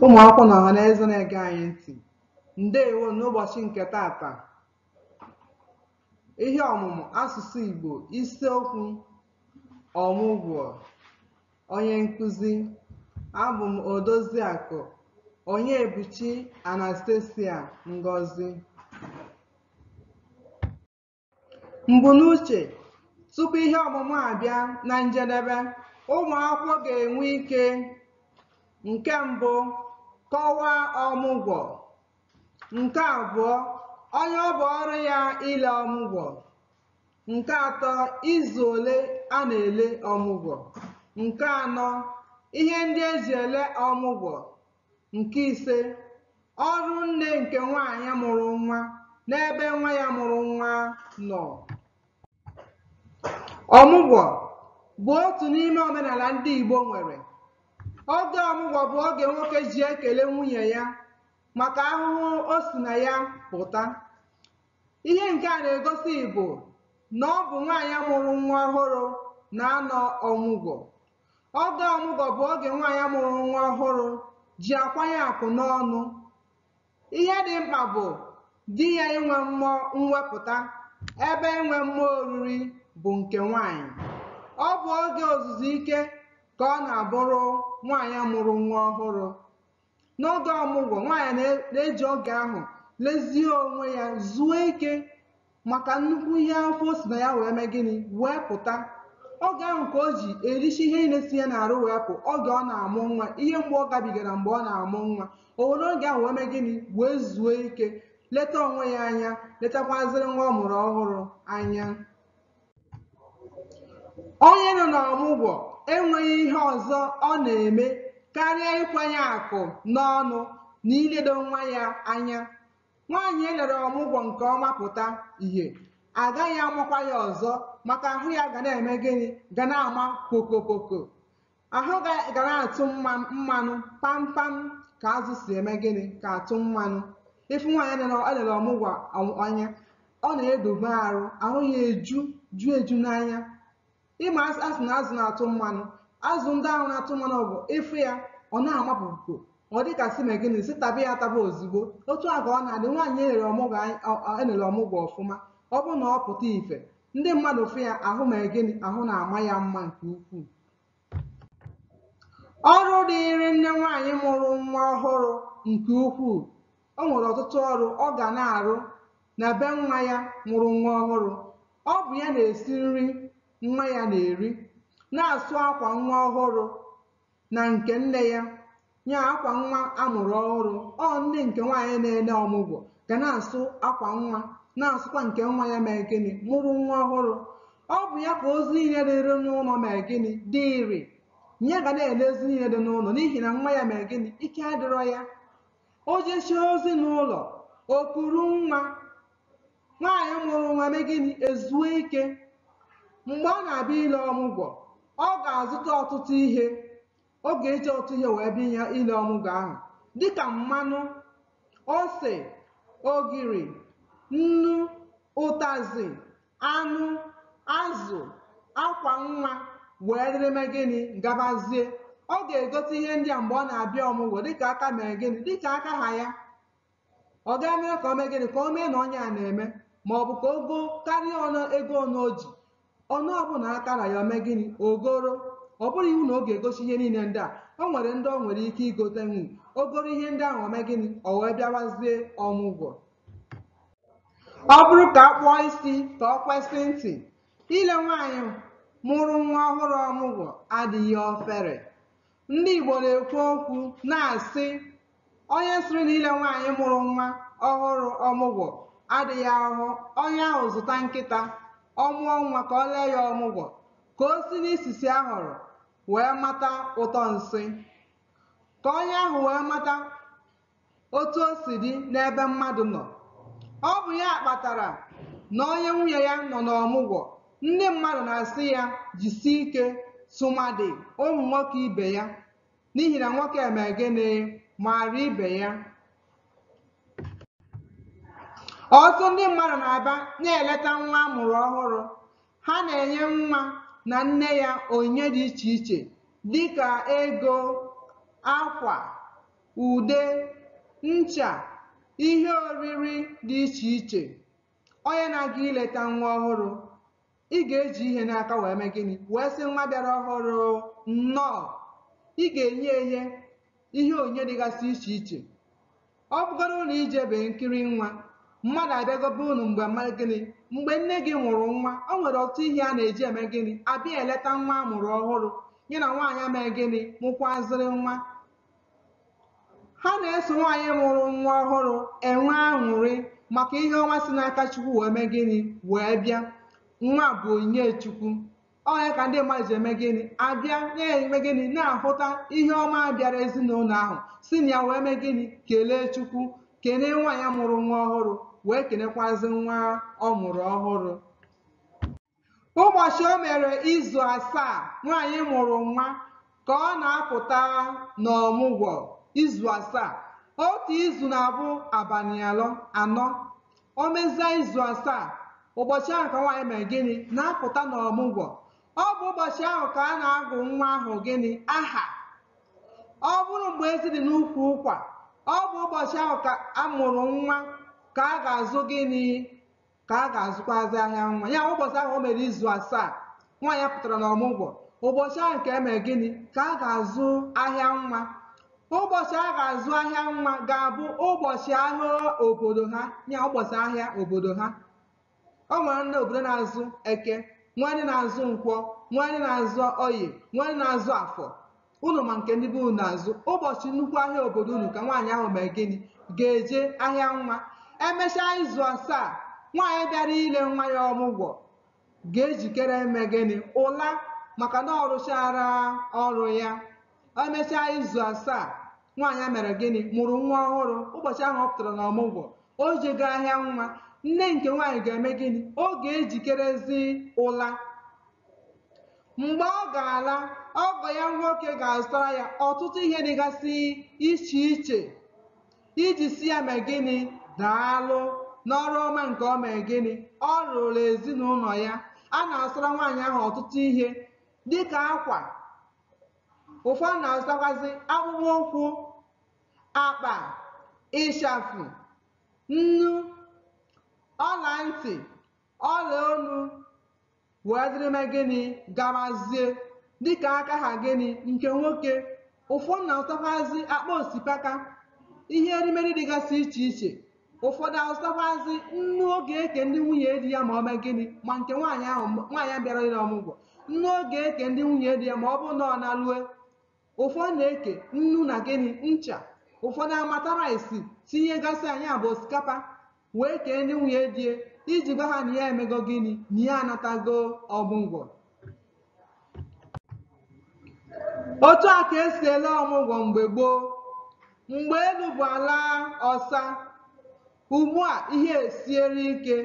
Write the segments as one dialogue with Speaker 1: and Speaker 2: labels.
Speaker 1: ụmụakwụkwọ na ọhaneze na-ege anyị ntị ndewo n'ụbọchị nke taata ihe ọmụmụ asụsụ Igbo isiokwu ọmụgwọ onye nkụzi abụ m odoziakụ Onyebuchi Anastasia Ngozi Mbunuche, Tupu ihe ọmụmụ abịa na njedebe, ụmụ akwụkwọ ga-enwe ike nke mbụ kọwaa ọmụgwọ, nke abụọ onye ọ bụ ọrụ ya ile ọmụgwọ, nke atọ izu ole a na-ele ọmụgwọ, nke anọ ihe ndị e ji ele ọmụgwọ, Nke ise, ọrụ nne nke nwaanyị mụrụ nwa n'ebe nwa ya mụrụ nwa nọ. Ọmụgwọ bụ otu n'ime omenala ndị Igbo nwere. Oge ọmụgwọ bụ oge nwoke ji ekele nwunye ya maka ahụhụ o si na ya pụta. Ihe nke a na-egosi bụ na ọ bụ nwaanyị mụrụ nwa ọhụrụ na-anọ ọmụgwọ Oge ọmụgwọ bụ oge nwaanyị mụrụ nwa ọhụrụ ji akwanye akụ n'ọnụ. Ihe dị mkpa bụ di ya inwe mmụọ mwepụta ebe inwe mmụọ oriri bụ nke nwaanyị. Ọ bụ oge ozuzu ike ka ọ na-abụrụ nwaanyị mụrụ nwa ọhụrụ. N'oge ọmụgwọ, nwaanyị na- na-eji oge ahụ lezie onwe ya, zuo ike maka nnukwu ihe afụ o si na ya wee mee gịnị wee pụta. Oge ahụ ka o ji erichi ihe niile si ya n'arụ wee pụ, oge ọ na-amụ nwa, ihe mgbu ọ gabigara mgbe ọ na-amụ nwa. O were oge ahụ wee mee gịnị wee zuo ike, leta onwe ya anya, letakwazịrị nwa ọ mụrụ ọhụrụ anya. onye nọ n'ọmụgwọ enweghị ihe ọzọ ọ na-eme karịa ịkwanye akụ n'ọnụ na iledo nwa ya anya nwaanyị e lere ọmụgwọ nke ọma pụta ihe a gaghị amakwa ya ọzọ maka ahụ ya ga na-eme gịnị ga na-ama kokokoko ahụ ga na-atụ mmanụ pampam ka azụ si eme gịnị ka atụ mmanụ ị fụ nwaanyị e lere ọmụgwọ anya ọ na-edobe arụ ahụ ya eju ju eju n'anya ị ma a sị na azụ na-atụ mmanụ azụ ndị ahụ na-atụ mmanụ bụ ị fụ ya ọ na-amapụpụ ọ dịka sị mee gịnị sị taba ya taba ozugbo otu a ka ọ na-adị nwaanyị e lere ọmụgwọ ọfụma ọ bụrụ na ọ pụta ife ndị mmadụ fụ ya ahụ mee gịnị ahụ na-ama ya mma nke ukwuu ọrụ dịịrị nne nwaanyị mụrụ nwa ọhụrụ nke ukwuu o nwere ọtụtụ ọrụ ọ ga na-arụ na be nwa ya mụrụ nwa ọhụrụ ọ bụ ya na-esi nri nwa ya na-eri na-asụ akwa nwa ọhụrụ na nke nne ya ya akwa nwa a mụrụ ọhụrụ ọ nne nke nwaanyị na-ele ọmụgwọ ga na-asụ akwa nwa na-asụkwa nke nwa ya mere gịnị mụrụ nwa ọhụrụ ọ bụ ya ka ozi niile dịrị n'ụlọ mere gịnị dịịrị ya ga na-ele ozi niile dị n'ụlọ n'ihi na nwa ya mere gịnị ike adịrọ ya o jechie ozi n'ụlọ o kuru nwa nwaanyị mụrụ nwa mee gịnị ezuo ike mgbe ọ na-abịa ile ọmụgwọ ọ ga-azụta ọtụtụ ihe ọ ga-eji ọtụtụ ihe wee bịa ile ọmụgwọ ahụ dịka mmanụ ose ogiri nnu ụtazị anụ azụ akwa nwa were mee gịnị gabazie ọ ga-egote ihe ndị a mgbe ọ na-abịa ọmụgwọ dịka aka mere gịnị dịka aka ha ya ọ ga-eme ka o mee gịnị ka o mee na onye a na-eme ma ọ bụ ka o gokarịa ọnụ ego ọnụ o ji ọnụ ọbụla aka ra ya o mee gịnị o goro ọ bụrọ iwu na ọ ga-egosi ihe niile ndị a o nwere ndị o nwere ike igotenwu o goro ihe ndị ahụ o mee gịnị o wee bịawazie ọmụgwọ ọ bụrụ ka a kpụọ isi ka ọ kwesị ntị ile nwaanyị mụrụ nwa ọhụrụ ọmụgwọ adịghị ofere Ndị Igbo na-ekwu okwu na-asị onye sịrị na ile nwaanyị mụrụ nwa ọhụrụ ọmụgwọ adịghị ahụhụ onye ahụ zụta nkịta ọ mụọ nwa ka o lee ya ọmụgwọ ka o si n'isisi ahụrụ wee mata ụtọ nsị ka onye ahụ wee mata otu o si dị n'ebe mmadụ nọ. Ọ bụ ya kpatara na onye nwunye ya nọ n'ọmụgwọ, ndị mmadụ na-asị ya jisie ike tụmadị ụmụ nwoke ibe ya n'ihi na nwoke eme gịnị maara ibe ya. Ọtụtụ ndị mmadụ na-abịa na-eleta nwa a mụrụ ọhụrụ. Ha na-enye nwa na nne ya onyinye dị iche iche dịka ego, akwa, ude, ncha, ihe oriri dị iche iche. Onye na-aga ileta nwa ọhụrụ, ị ga-eji ihe n'aka wee mee gịnị? Wee sị nwa bịara ọhụrụ nnọọ. Ị ga-enye ihe ihe onyinye dịgasị iche iche. Ọ bụgoro na i jebe nkiri nwa, mmadụ abịago be unu mgbe mee gịnị mgbe nne gị mụrụ nwa o nwere ọtụtụ ihe a na-eji eme gịnị abịa eleta nwa a mụrụ ọhụrụ ya na nwaanyị a mee gịnị mụkwazịrị nwa ha na-eso nwaanyị mụrụ nwa ọhụrụ enwe aṅụrị maka ihe ọma si n'aka chukwu wee mee gịnị wee bịa nwa bụ onyinye chukwu ọ ya ka ndị mmadụ ji eme gịnị abịa na-eme gịnị na-ahụta ihe ọma bịara ezinụlọ ahụ si na ya wee mee gịnị kelee chukwu kelee nwaanyị mụrụ nwa ọhụrụ wee kenekwazi nwa ọ mụrụ ọhụrụ Ụbọchị o mere izu asaa nwaanyị mụrụ nwa ka ọ na-apụta n'ọmụgwọ izu asaa. Otu izu na-abụ abalị alọ anọ. O mezia izu asaa, ụbọchị ahụ ka nwaanyị mere gịnị? Na-apụta n'ọmụgwọ. Ọ bụ ụbọchị ahụ ka a na-agụ nwa ahụ gịnị? Aha. Ọ bụrụ mgbe ezi dị n'ukwu ụkwa, ọ bụ ụbọchị ahụ a mụrụ nwa ka a ga-azụ gịnị? ka a ga-azụkwazị ahịa nwa ya ụbọchị ahụ o mere izu asaa nwaanyị pụtara n'ọmụgwọ ụbọchị ahụ ka e mee gịnị ka a ga-azụ ahịa nwa ụbọchị a ga-azụ ahịa nwa ga-abụ ụbọchị ahịa obodo ha ya ụbọchị ahịa obodo ha o nwere ndị obodo na-azụ eke nwee ndị na-azụ nkwọ nwee ndị na-azụ oye nwee ndị na-azụ afọ unu ma nke ndị be unu na-azụ ụbọchị nnukwu ahịa obodo unu ka nwaanyị ahụ mee gịnị ga-eje ahịa nwa emechaa izu asaa nwaanyị bịara ile nwa ya ọmụgwọ ga-ejikere eme gịnị ụla maka na ọ rụchaala ọrụ ya emechaa izu asaa nwaanyị a mere gịnị mụrụ nwa ọhụrụ ụbọchị ahụ ọ pụtara na ọmụgwọ o jego ahịa nwa nne nke nwaanyị ga-eme gịnị ọ ga-ejikerezi ụla mgbe ọ ga-ala ọgọ ya nwoke ga-azụtara ya ọtụtụ ihe dịgasị iche iche iji sị ya mee gịnị daalụ n'ọrụ ọma nke ọ mee gịnị ọ rụụrụ ezinụlọ ya a na-azụra nwaanyị ahụ ọtụtụ ihe dịka akwa ụfọdụ na-azụtakwazị akpụkpọ ụkwụ akpa ịshafụ nnu ọla ntị ọla olu wee dịrị mee gịnị gabazie dịka aka ha gịnị nke nwoke ụfọdụ na-azụtakwazị akpa osikapa ihe erimeri dịgasị iche iche ụfọdụ azụtakwazị nnu ọ ga-eke ndị nwunye di ya ma ọ mee gịnị ma nke nwaanyị ahụ nwaanyị bịara ile ọmụgwọ nnu ọ ga-eke ndị nwunye di ya ma ọ bụrụ na ọ nalue ụfọdụ na-eke nnu na gịnị ncha ụfọdụ amata rice tinyegasịa nya bụ osikapa wee kee ndị nwunye di ya iji gwa ha na ya emego gịnị na ya anatago ọmụgwọ otu a ka e si ele ọmụgwọ mgbe gboo mgbe elu bụ ala ọsa ugbu a ihe esiere ike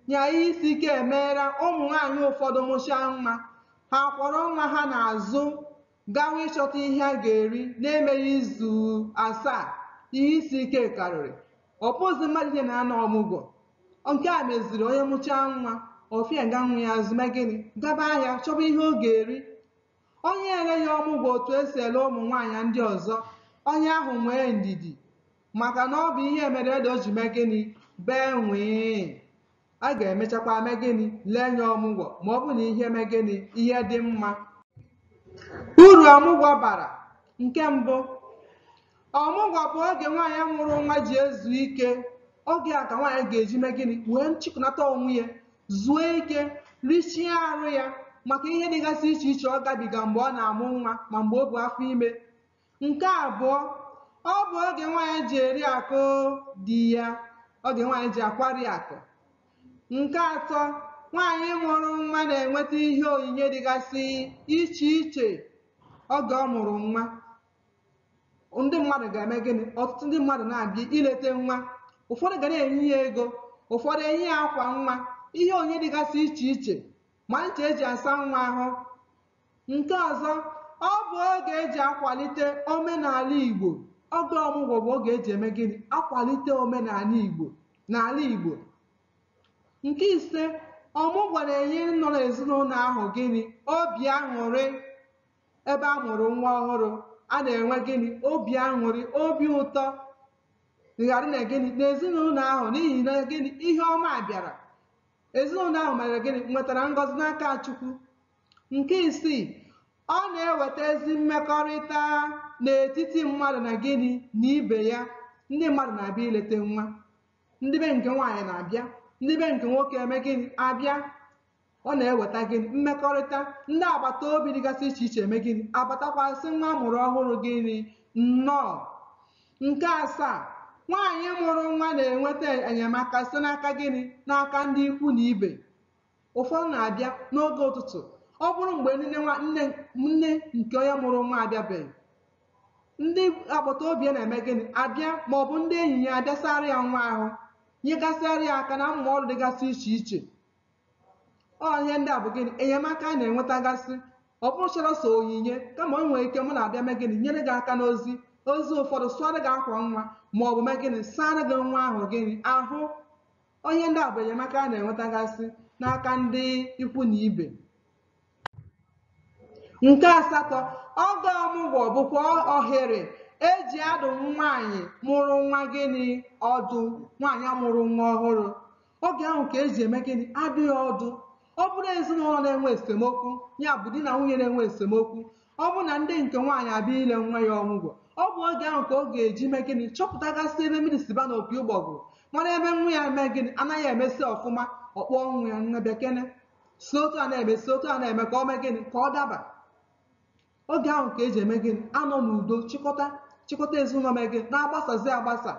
Speaker 1: nya ihe isi ike emeela ụmụ nwaanyị ụfọdụ mụchaa nwa ha kwọrọ nwa ha n'azụ gawa ịchọta ihe a ga-eri na-emeghị izu asaa ihe isi ike karịrị ọ bụzi mmadụ niine na-anọ ọmụgwọ nke a meziri onye mụchaa nwa o fie ga nwa ya azụ mee gịnị gaba ahịa chọba ihe ọ ga-eri onye eleghị ọmụgwọ otu e si ele ụmụ nwaanyị ndị ọzọ onye ahụ nwee ndidi maka na ọ bụ ihe mere ede o ji mee gịnị bee nwee a ga-emechakwa mee gịnị lee ya ọmụgwọ ma ọ bụ na ihe mee gịnị ihe dị mma uru ọmụgwọ bara nke mbụ ọmụgwọ bụ oge nwaanyị mụrụ nwa ji ezu ike oge a ka nwaanyị ga-eji mee gịnị wee nchịkọnata onwe ya zuo ike richie arụ ya maka ihe dịgasị iche iche ọ gabiga mgbe ọ na-amụ nwa ma mgbe o bu afọ ime Nke abụọ, ọ bụ oge nwaanyị ji eri akụ di ya, oge nwaanyị ji akwarị akụ. Nke atọ, nwaanyị mụrụ nwa na-enweta ihe onyinye dịgasị iche iche oge ọ mụrụ nwa. Ndị mmadụ ga-eme gịnị? Ọtụtụ ndị mmadụ na-abịa ileta nwa. Ụfọdụ ga na-enye ya ego, ụfọdụ enye ya akwa nwa, ihe onyinye dịgasị iche iche, ma ncha e ji asa nwa ahụ, Nke ọzọ, ọ bụ oge e ji akwalite omenala Igbo. Oge ọmụgwọ bụ oge e ji eme gịnị? Akwalite omenala Igbo n'ala Igbo. Nke ise, ọmụgwọ na-enye nnọọ ezinụlọ ahụ gịnị? Obi aṅụrị. Ebe a mụrụ nwa ọhụrụ, a na-enwe gịnị? Obi aṅụrị, obi ụtọ ga-adị na gịnị? N'ezinụlọ ahụ n'ihi na gịnị? Ihe ọma bịara. Ezinụlọ ahụ mere gịnị? Nwetara ngọzi n'aka Chukwu. Nke isii, ọ na-eweta ezi mmekọrịta n'etiti mmadụ na gịnị na ibe ya. Ndị mmadụ na-abịa ileta nwa. Ndị be nke nwaanyị na-abịa, ndị be nke nwoke eme gịnị abịa. Ọ na-eweta gịnị mmekọrịta. Ndị agbata obi dịgasị iche iche eme gịnị abatakwa sị nwa a mụrụ ọhụrụ gịnị nnọọ. Nke asaa, nwaanyị mụrụ nwa na-enweta enyemaka site n'aka gịnị n'aka ndị ikwu na ibe. ụfọdụ na-abịa n'oge ụtụtụ ọ bụrụ mgbe nne nwa nne nne nke onye mụrụ nwa abịabeghị ndị agbata obi ya na-eme gịnị abịa ma ọ bụ ndị enyi ya abịa saara ya nwa ahụ nyegasịara ya aka n'ụmụ ọrụ dịgasị iche iche ọ ihe ndị a bụ gịnị enyemaka a na-enwetagasị ọ bụcharọ sọ onyinye kama o nwere ike ụmụnna abịa mee gịnị nyere gị aka n'ozi ozi ụfọdụ sụara gị akwa nwa ma ọ bụ mee gịnị saara gị nwa ahụ gịnị ahụ Ọ ihe ndị a bụ enyemaka a na-enwetagasị n'aka ndị ikwu na ibe. Nke asatọ, oge ọmụgwọ bụkwa ohere e ji adụ nwaanyị mụrụ nwa gịnị ọdụ, nwaanyị a mụrụ nwa ọhụrụ. Oge ahụ ka e ji eme gịnị? Adụ ya ọdụ. Ọ bụrụ ezinụlọ na-enwe esemokwu, ya bụ di na nwunye na-enwe esemokwu, ọ bụ na ndị nke nwaanyị abịa ile nwa ya ọmụgwọ ọ bụ oge ahụ ka ọ ga-eji mee gịnị chọpụtagasị ebe mmiri si baa n'opi ụgbọgụrụ mara ebe nwa ya mee gịnị anaghị emezi ọfụma ọ kpọọ nwa ya nne bịakene si otu a na-eme si otu a na-eme ka ọ mee gịnị ka ọ daba oge ahụ ka e ji eme gịnị anọ n'udo chịkọta chịkọta ezinụlọ mee gịnị na-agbasazi agbasa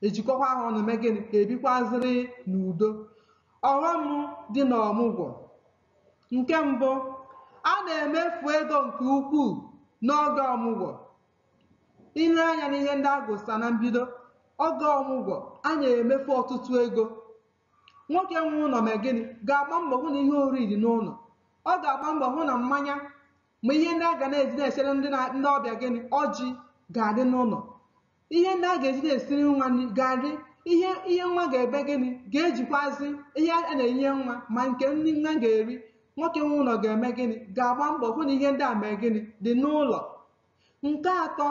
Speaker 1: ejikọkwa ha ọnụ mee gịnị ka ebikwazịrị n'udo ọghọm dị n'ọmụgwọ nke mbụ a na-emefu ego nke ukwuu n'oge ọmụgwọ i lee anya n'ihe ndị a gụsa na mbido oge ọmụgwọ a na-emefu ọtụtụ ego nwoke nwe ụlọ mee gịnị ga-agba mbọ hụ na ihe oriri dị n'ụlọ ọ ga-agba mbọ hụ na mmanya ma ihe ndị a ga na-eji na-esere ndị ndị ọbịa gịnị ọjị ga-adị n'ụlọ ihe ndị a ga-eji na-esiri nwa nri ga-adị ihe ihe nwa ga-eme gịnị ga-ejikwazi ihe a na-enye nwa ma nke nri nwa ga-eri nwoke nwe ụlọ ga-eme gịnị ga-agba mbọ hụ na ihe ndị a mee gịnị dị n'ụlọ nke atọ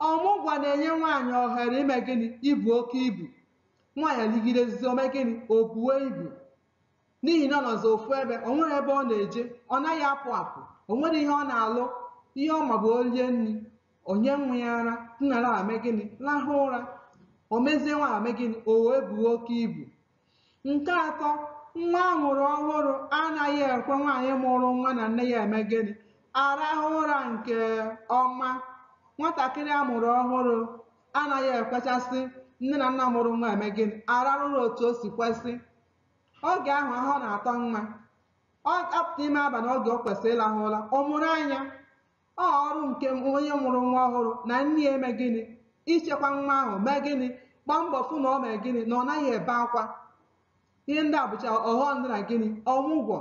Speaker 1: ọmụgwọ na-enye nwaanyị ohere ime gịnị ibu oke ibu nwaanyị ligidezie o mee gịnị o buo ibu n'ihi na ọ nọzi ofu ebe o nwerọ ebe ọ na-eje ọ naghị apụ apụ o nwerọ ihe ọ na-alụ ihe ọ ma bụ o rie nri o nye nwa ya ara nọrọ ala mee gịnị lahụ ụra o mezie nwa a mee gịnị o wee buo oke ibu nke atọ nwa a mụrụ ọhụrụ anaghị ekwe nwaanyị mụrụ nwa na nne ya eme gịnị arahụ ụra nke ọma nwatakịrị a mụrụ ọhụrụ anaghị ekwechasị nne na nna mụrụ nwa eme gịnị ararụ ụra otu o si kwesị oge ahụ ahụ na-atọ nwa a pụta ime abalị oge o kwesịrị ịlahụ ụra ọ mụrụ anya ọ ọrụ nke onye mụrụ nwa ọhụrụ na nne ya eme gịnị ichekwa nwa ahụ mee gịnị gbaa mbọ fụ na o mee gịnị na ọ naghị ebe akwa ihe ndị a bụcha ọghọm dị na gịnị ọmụgwọ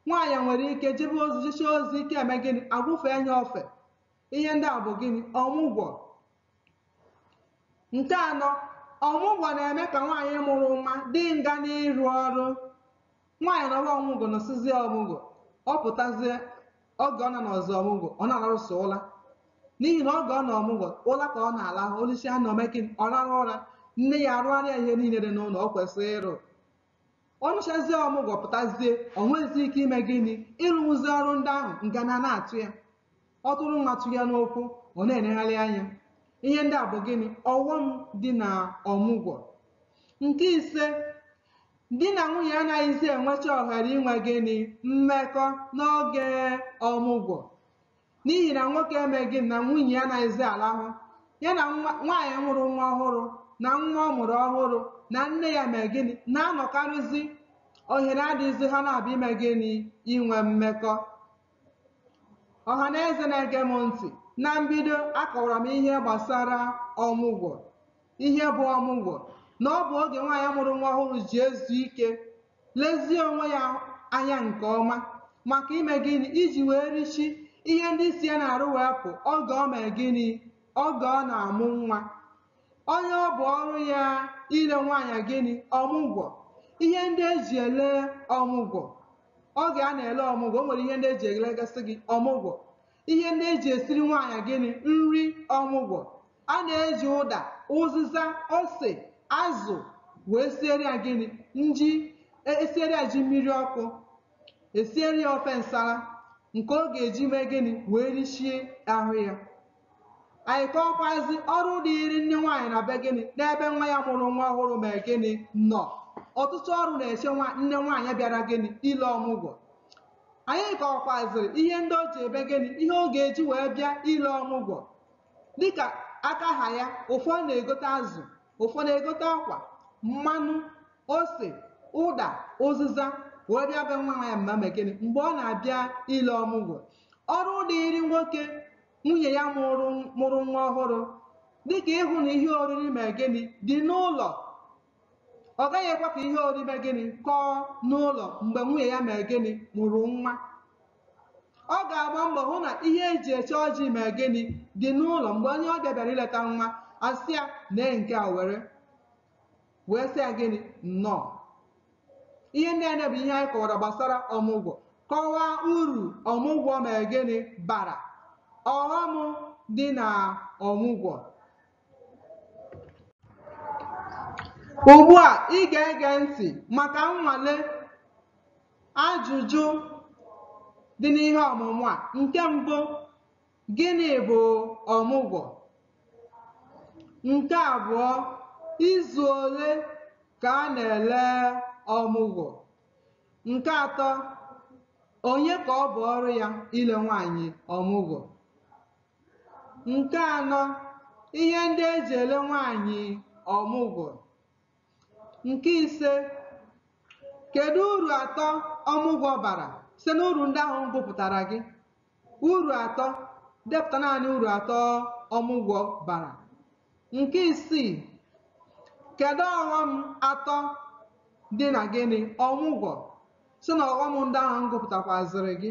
Speaker 1: nwaanyị nwere ike jebe ozi jechaa ozi ike eme gịnị agwụfee ya ofe ihe ndị a bụ gịnị ọmụgwọ nke anọ ọmụgwọ na-eme ka nwaanyị mụrụ nwa dị ngana ịrụ ọrụ nwaanyị nọrọ ọmụgwọ nọsịzie ọmụgwọ ọ pụtazie oge ọ na-anọzi ọmụgwọ ọ na-alarụsị ụla n'ihi na oge ọ nọ ọmụgwọ ụla ka ọ na-alahụ o lisịa nri o mee gịnị ọ rarụ ụra nne ya arụgharịa ihe niile dị n'ụlọ o kwesịrị ịrụ ọ nọchazie ọmụgwọ pụtazie o nweghịzi ike ime gịnị ịrụzi ọrụ ndị ahụ ngana na-atụ ya ọ tụrụ nwa tụ ya n'ụkwụ ọ na-enegharị anya ihe ndị a bụ gịnị ọghọm dị na ọmụgwọ nke ise di na nwunye anaghịzi enwecha ohere inwe gịnị mmekọ n'oge ọmụgwọ n'ihi na nwoke eme gịnị na nwunye ya anaghịzi alahụ ya na nwaanyị mụrụ nwa ọhụrụ na nwa ọ mụrụ ọhụrụ na nne ya mee gịnị na-anọkarịzi ohere adịghịzi ha na-abịa ime gịnị inwe mmekọ ọha na eze na-ege m ntị na mbido akọwara m ihe gbasara ọmụgwọ ihe bụ ọmụgwọ na ọ bụ oge nwaanyị mụrụ nwa ọhụrụ ji ezu ike lezie onwe ya anya nke ọma maka ime gịnị iji wee richie ihe ndị si ya n'arụ wee pụ oge o mee gịnị oge ọ na-amụ nwa onye ọ bụ ọrụ ya ile nwaanyị gịnị ọmụgwọ ihe ndị eji ele ọmụgwọ oge a na-ele ọmụgwọ o nwere ihe ndị eji elegasị gị ọmụgwọ ihe ndị eji esiri nwaanyị gịnị nri ọmụgwọ a na-eji ụda ụzịza ose azụ wee siere ya gịnị nri e- esiere ya ji mmiri ọkụ esiere ya ofe nsala nke ọ ga-eji mee gịnị wee richie ahụ ya anyị kọwakwazị ọrụ dịịrị nne nwaanyị na be gịnị n'ebe nwa ya mụrụ nwa ọhụrụ mee gịnị nọ ọtụtụ ọrụ na-echekwa nne nwaanyị bịara gịnị ile ọmụgwọ anyị kọwakwazịrị ihe ndị o ji eme gịnị ihe ọ ga-eji wee bịa ile ọmụgwọ dịka aka ha ya ụfọdụ na-egote azụ ụfọdụ na-egote akwa mmanụ ose ụda ụzịza wee bịa be nwa nwa ya ma mee gịnị mgbe ọ na-abịa ile ọmụgwọ ọrụ dịịrị nwoke nwunye ya mụrụ mụrụ nwa ọhụrụ dịka ịhụ na ihe oriri mee gịnị dị n'ụlọ ọ gaghị ekwe ka ihe oriri mee gịnị kọọ n'ụlọ mgbe nwunye ya mere gịnị mụrụ nwa ọ ga-agba mbọ hụ na ihe eji eche ọjị mere gịnị dị n'ụlọ mgbe onye ọbịa bịara ileta nwa a sị ya nee nke a were wee sị ya gịnị nnọọ ihe ndị a bụ ihe anyị kọwara gbasara ọmụgwọ kọwaa uru ọmụgwọ mere gịnị bara ọghọm dị na ọmụgwọ Ugbu a, ị ga-ege ntị maka nnwale ajụjụ dị n'ihe ọmụmụ a. Nke mbụ, gịnị bụ ọmụgwọ? Nke abụọ, izu ole ka a na-ele ọmụgwọ? Nke atọ, onye ka ọ bụ ọrụ ya ile nwaanyị ọmụgwọ? Nke anọ, ihe ndị e ji ele nwaanyị ọmụgwọ. Nke ise, kedu uru atọ ọmụgwọ bara site n'uru ndị ahụ m gụpụtara gị? Uru atọ, depụta naanị uru atọ ọmụgwọ bara. Nke isii, kedu ọghọm atọ dị na gịnị ọmụgwọ si na ọghọm ndị ahụ m gụpụtakwazịrị gị?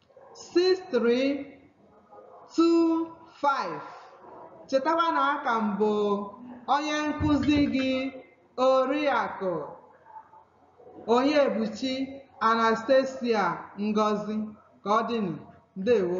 Speaker 1: 6325 chetakwa na aka m bụ onye nkụzi gị oriakụ Onyebuchi Anastasia Ngozi ka ọ dịnụ ndewo